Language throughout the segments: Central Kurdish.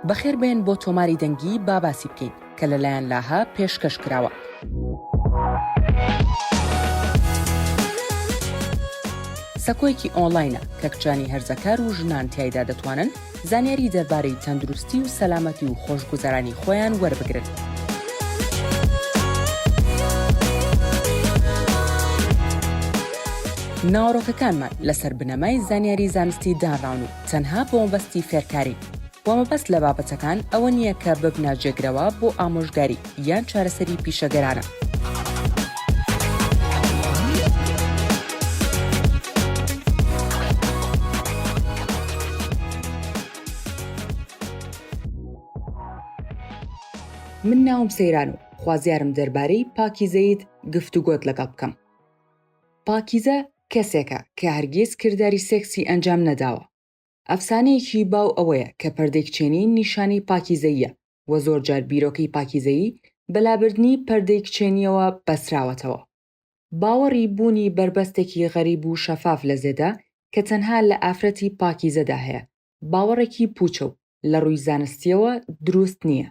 بەخێر بێن بۆ تۆماری دەنگی با باسی بکەین کە لەلایەن لاهە پێشکەش کراوە. سەکۆیەکی ئۆنلاینە کە کچانی هەرزەکار و ژنان تایدا دەتوانن زانیاری دەربارەی تەندروستی و سەلامەتی و خۆشگوزەرانی خۆیان وەربگرن. ناوەڕۆکەکانمان لەسەر بنەمای زانیاری زانستی دانراون و تەنها بۆمەبەستی فێرکارین و مەبەست لە بابەتەکان ئەوە نییە کە ببنە جێگرەوە بۆ ئامۆژگاری یان چارەسەری پیشەگەرانە. من ناوم سەیران و خوازیارم دەربارەی پاکیزەییت گفتوگۆت لەگەڵ بکەم. پاکیزە کەسێکە کە هەرگیز کرداری سێکسی ئەنجام نەداوە. ئەفسانەیەکی باو ئەوەیە کە پەردەیکچێنی نیشانەی پاکیزەییە و زۆرجار بیرۆکەی پاکیزەیی بە لابردنی پەردەی کچێنییەوە بەستراوەتەوە. باوەڕی بوونی بەربەستێکی غەریب و شەفاف لە زێدا کە تەنها لە ئافرەتی پاکیزەدا هەیە، باوەڕێکی پووچە و لە ڕووی زانستییەوە دروست نییە.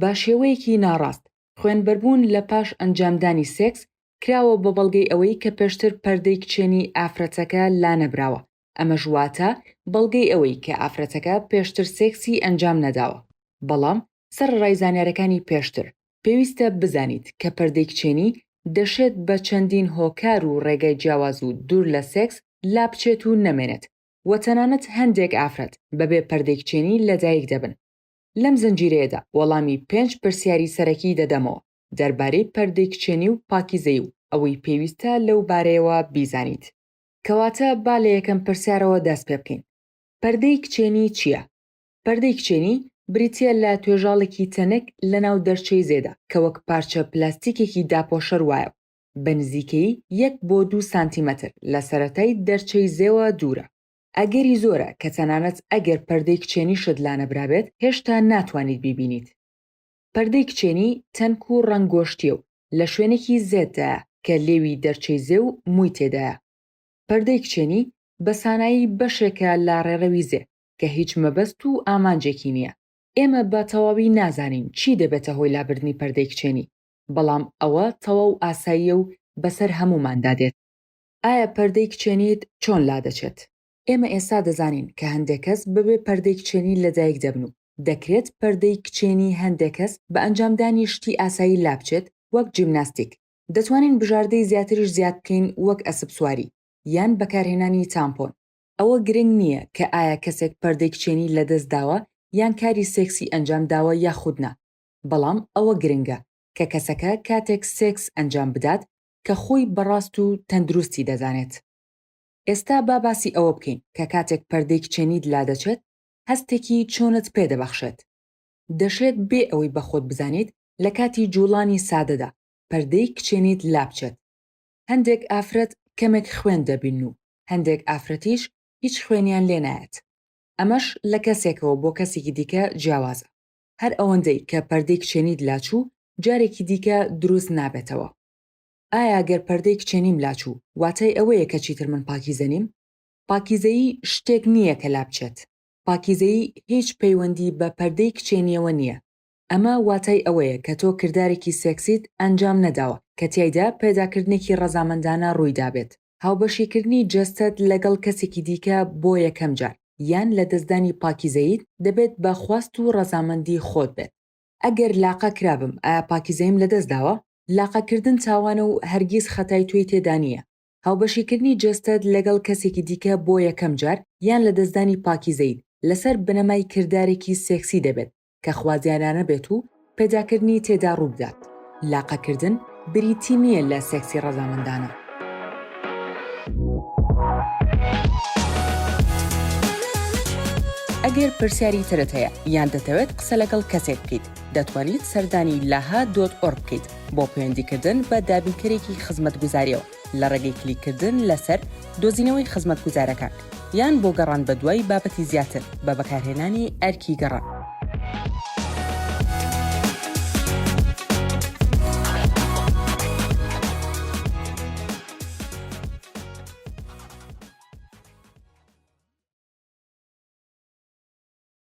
بە شێوەیەکی ناڕاست، خوێنبەربوون لە پاش ئەنجامدانی سێکس کراوە بە بەڵگەی ئەوەی کە پێشتر پەردەی کچێنی ئافرەتەکە لانەبراوە، ئەمەش واتە بەڵگەی ئەوەی کە ئافرەتەکە پێشتر سێکسی ئەنجام نەداوە. بەڵام سەرەڕای زانیارەکانی پێشتر، پێویستە بزانیت کە پەردەی کچێنی دەشێت بە چەندین هۆکار و ڕێگای جیاواز و دوور لە سێکس لابچێت و نەمێنێت و تەنانەت هەندێک ئافرەت بەبێ پەردەی کچێنی لەدایک دەبن. لەم زنجیرەیەدا وەڵامی پێنج پرسیاری سەرەکی دەدەمەوە دەربارەی پەردەی کچێنی و پاکیزەیی و ئەوەی پێویستە لەو بارەیەوە بیزانیت. کەواتە با لە یەکەم پرسیارەوە دەست پێ بکەین، پەردەی کچێنی چییە؟ پەردەی کچێنی بریتییە لە توێژاڵێکی تەنک لەناو دەرچەی زێدا کە وەک پارچە پلاستیکێکی داپۆشەر وایە و بە نزیکەیی یەک بۆ دوو سانتیمەتر لە سەرەتای دەرچەی زێوە دوورە. ئەگەری زۆرە کە تەنانەت ئەگەر پەردەی کچێنیشت لانەبرابێت هێشتا ناتوانیت بیبینیت. پەردەی کچێنی تەنک و ڕەنگ گۆشتیە و لە شوێنێکی زێددایە کە لێوی دەرچەی زێ و مووی تێدایە. پەردەی کچێنی بە سانایی بەشێکە لە ڕێڕەوی زێ کە هیچ مەبەست و ئامانجێکی نیە. ئێمە بە تەواوی نازانین چی دەبێتە هۆی لابردنی پەردەی کچێنی، بەڵام ئەوە تەواو ئاساییە و بەسەر هەمووماندا دێت. ئایا پەردەی کچێنیت چۆن لادەچێت؟ ئێمە ئێستا دەزانین کە هەندێک کەس بەبێ پەردەی کچێنی لەدایک دەبن و دەکرێت پەردەی کچێنی هەندێک کەس بە ئەنجامدانی شتی ئاسایی لابچێت وەک جیمناستیک. دەتوانین بژاردەی زیاتریش زیاد بکەین وەک ئەسبسواری یان بەکارهێنانی تامپۆن. ئەوە گرنگ نییە کە ئایا کەسێک پەردەی کچێنی لەدەست داوە یان کاری سێکسی ئەنجام داوە یاخود نا، بەڵام ئەوە گرنگە کە کەسەکە کاتێک سێکس ئەنجام بدات کە خۆی بە ڕاست و تەندروستی دەزانێت. ئێستا با باسی ئەوە بکەین کە کاتێک پەردەی کچێنیت لادەچێت هەستێکی چۆنت پێ دەبەخشێت. دەشێت بێ ئەوەی بە خۆت بزانیت لە کاتی جووڵانی سادەدا پەردەی کچێنیت لابچێت. هەندێک ئافرەت کەمێک خوێن دەبینن و هەندێک ئافرەتیش هیچ خوێنیان لێ نایەت. ئەمەش لە کەسێکەوە بۆ کەسێکی دیکە جیاوازە. هەر ئەوەندەی کە پەردەی کچێنیت لاچوو جارێکی دیکە دروست نابێتەوە ئایا گەر پەردەی کچێنیم لاچوو واتای ئەوەیە کە چیتر من پاکیزە نیم؟ پاکیزەیی شتێک نییە کە لابچێت پاکیزەیی هیچ پەیوەندی بە پەردەی کچێنییەوە نییە ئەمە واتای ئەوەیە کە تۆ کردارێکی سێکسیت ئەنجام نەداوە کە تیایدا پەیداکردنێکی ڕەزامەندانە ڕوویدابێت هاوبەشیکردنی جەستەت لەگەڵ کەسێکی دیکە بۆ یەکەم جار، یان لەدەستدانی پاکیزەییت، دەبێت بە خواست و ڕەزامەندی خۆت بێت. ئەگەر لاقە کرابم، ئایا پاکیزەییم لەدەستداوە؟ لاقەکردن تاوانە و هەرگیز خەتای تۆی تێدا نییە. هاوبەشیکردنی جەستەت لەگەڵ کەسێکی دیکە بۆ یەکەم جار، یان لەدەستدانی پاکیزەییت، لەسەر بنەمای کردارێکی سێکسی دەبێت، کە خوازیارانە بێت و پەیداکردنی تێدا ڕووبدات، لاقەکردن بریتی نییە لە سێکسی ڕەزامەندانە. ئەگەر پرسیاری ترت هەیە یان دەتەوێت قسە لەگەڵ کەسێک بکەیت دەتوانیت سەردانی لاها دۆت ئۆرگ بکەیت بۆ پەیوەندیکردن بە دابینکەرێکی خزمەتگوزاریەوە. لە ڕێگەی کلیککردن لەسەر دۆزینەوەی خزمەتگوزارەکان، یان بۆ گەڕان بەدوای بابەتی زیاتر بە بەکارهێنانی ئەرکی گەڕان.